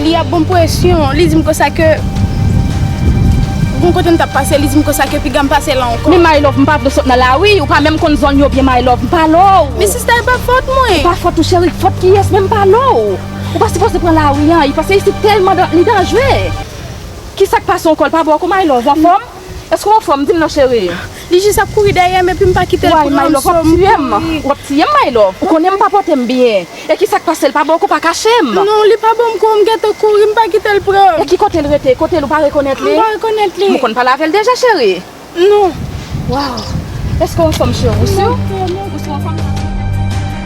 Li ap banm presyon, li dim konsa ke Gon kote m tap pase, li dim konsa ke piga m pase la ankò Men my love m pa vle sot nan lari, ou pa menm konn zòn yo byen my love, m pa lò w Men sista e pa fòt mwen E pa fòt ou cheri, fòt kiyès menm m pa lò w Ou pa sipoze pran lari an, paske isit tèlman li danjre Kisak pase ankò, l pa bon ankò my love, ou anfòm? Èske w anfòm? Di m non cheri. Li jis ap kouri dèyè m epi m pa kite l pran m. Woy Maylove w ap tiye m. W ap tiye m Maylove. Ou konnen m pa pote m byen. E ki sa k pase l pa ba w kou pa kache m. Non li pa ban m kou m gentan kouri m pa kite l pran m. E ki kote l rete? Kote l ou pa rekonèt li? M pa rekonèt li. Ou konn pale avè l deja cheri? Non. Waww. Èske w anfòm cheri? Ou sur? Ou sur anfòm?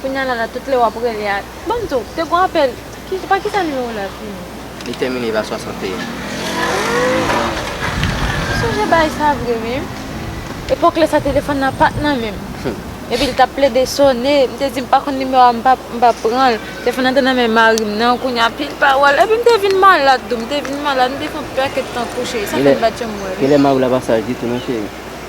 Kounya la la tout lè wap rele a banm tou te gon apèl ki pa kisa nimewo la fini. Li tèmine pa 61. Humm m sonje baay sa vre wi epòk lè sa telefòn nan pat nan menm epi l tap plede sone m te di m pa konn nimewo a m pap pranl telefòn nan te nan men marim nan kounya anpil pawòl epi m te vin malad tou m te vin malad m te fon paket tan kouche sa fèm bat yo m wè wi. Genlè mariw la pa saj ditou non cheri.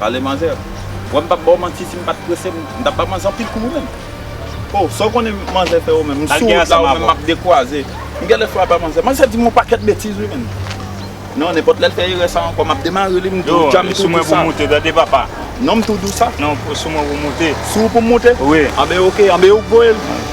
Pale manzè. Wè m pap baw manti si m pat prese m tap ba manzè anpil kou ou menm. Oh sa w konnen manzè fè ou menm. M sou wout la ou menm map dekwaze. M gèlè fwa ba manzè. Manzè di m on pakèt betiz wi menn. Non nenpòt lè l fè erè sa ankò map demare li m di w djanm tou dousa. Non m tou dousa. Sou mwen pou m moute. Sou ou pou m moute? Wi. Anben ok. Anben ou k voye l.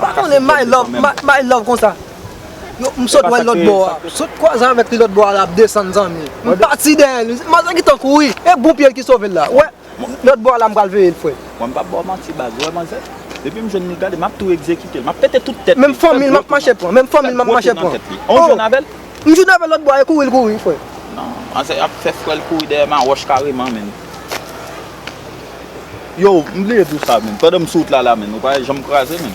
Pa konnen my love my love konsa Yo m sot wèl lòt bò a m sot kwaze avèk li lòt bò a lap desann zanmi m pati dèyè li manzè gentan kouri e bon pyel ki sovel la wè lòt bò a la m pral veyel frèm. Mwen m pap baw manti baz ou wè manzè depim jwenn li gade map tou egzekitel map pete tout tèt li menm fanmil map mache pran menm fanmil map mache pran oh ou jwenn avèl m jwenn avèl lòt bò a e kouri l kouri frè. Nan manzè ap fè frèl kouri dèyè ma wòch kareman menn. Yow m bliye di w sa menn pandan m sou wout la la menn ou pa janm kraze menn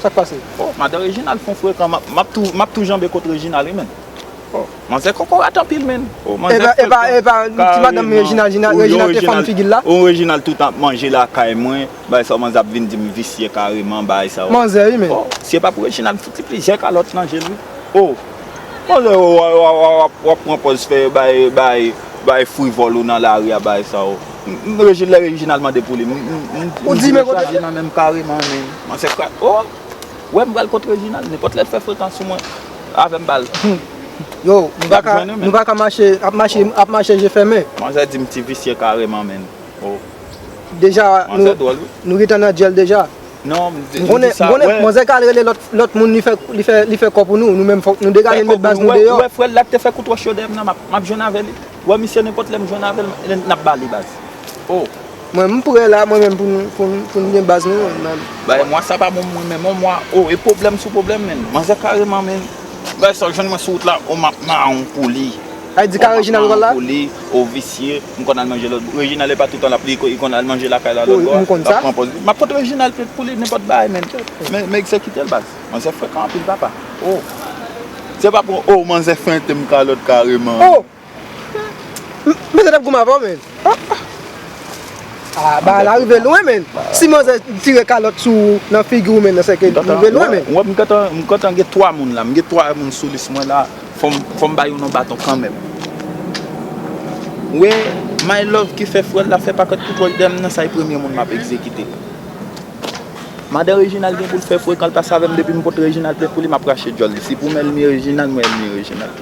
Sak pase? Oh madan Reginald fon frekan map tou map tou janbe kot Reginald wi menn Oh manzè kokorat anpil menn Oh manzè frekan Epa epa epa epa ti madanm Reginald Reginald te fann figi l la Oh Reginald tout ap manje lakay mwen bay sa w manzè ap vin di m visye kareman bay sa w Manzè wi menn Oh si e pa pou Reginald m fout li plizyè kalòt nan je l wi Oh. Bon lè ou wap pran pòz fè bay frivòl ou nan lari a bay sa ou. Lè Reginald mande pou li, m di men kote li. M pare man men. Man se krak. Ou wè m pral kont Reginald. Nenpòt lè l fè frekans sou mwen, avè m bal. Yo, nou pa ka mache, ap mache je fèmen. Man zè di m ti visye kareman men. Ou. Deja, nou gentan nan dyèl deja. Non, m di sa, wè. M konnen, manzè ka al rele lòt moun li fè kò pou nou, nou menm fòk nou degaje nou met baz nou deyò. Wè frè l la k te fè kou twò cho dèyè m nan, m ap jwenn avè li. Wè misye nenpòt lè m jwenn avè l, n ap ba li baz. O! Mwen m prè la, mwen menm pou n gen baz nou menm. Bagay mwa sa pa bon pou mwen menm non mwa. O! E pwoblèm sou pwoblèm menn. Manzè kareman menn. Bagay sa w jwenn mwen sou wout la, o m ap mawon pou li. Konpòtman an poli, ou visye, m konn al manje lòt bò. Reginald e pa toutan l ap li, li konn al manje lakay la lòt bò a, l ap pran pòz li. M ap pot Reginald plenn pou li nenpòt bagay menn. Men egzekite l baz. Manzè frekan anpil papa. O! Se pa pou o manzè fente m kalòt kareman. O! Manzè t ap goumen avè w menn. Ahh bagay la rive lwen menn, si manzè tire kalòt sou ou nan figi ou menn sèke li rive lwen menn. Wè m gentan, m gentan gen 3 moun la, m gen 3 moun sou lis mwen la, fò m ba youn on baton kanmenm. Wè my love ki fè frè l la fè pakèt kou pòch dèyè m nan sa e premye moun m ap egzekite. Madan Reginald gen pou l fè frekan l pase avè m depi m pot Reginald plen pou li m ap rache djòl li, si pou m elmi Reginald mwen elmi Reginald.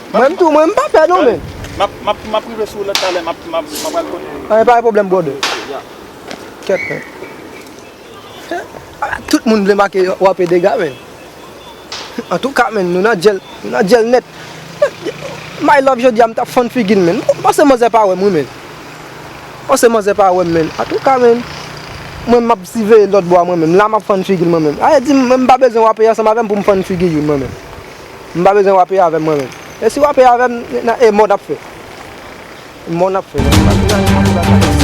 Mwen tou mwen mpa pè non men. Map rive sou ou lè talè map al kote ou. Anyen pa gen pwoblèm brother. Kèt men. Ala tout moun vle make yo ape dega men. Antouka men nou nan djèl nou nan djèl nèt. My love jodia m tap fann figil men. M panse manzè pa wèm wi men. M panse manzè pa wèm men. Antouka men. Mwen map siveye lòt bò a mwen menm. La map fann figil mwen menm. Aye di m mwen mpa bezwen w ape ansanm avèm pou m fann figi youn mwen menm. M pa bezwen wape avè m mwen menm. E si wape avè m nan e mò nap fè. Mò nap fè nan mò nap fè.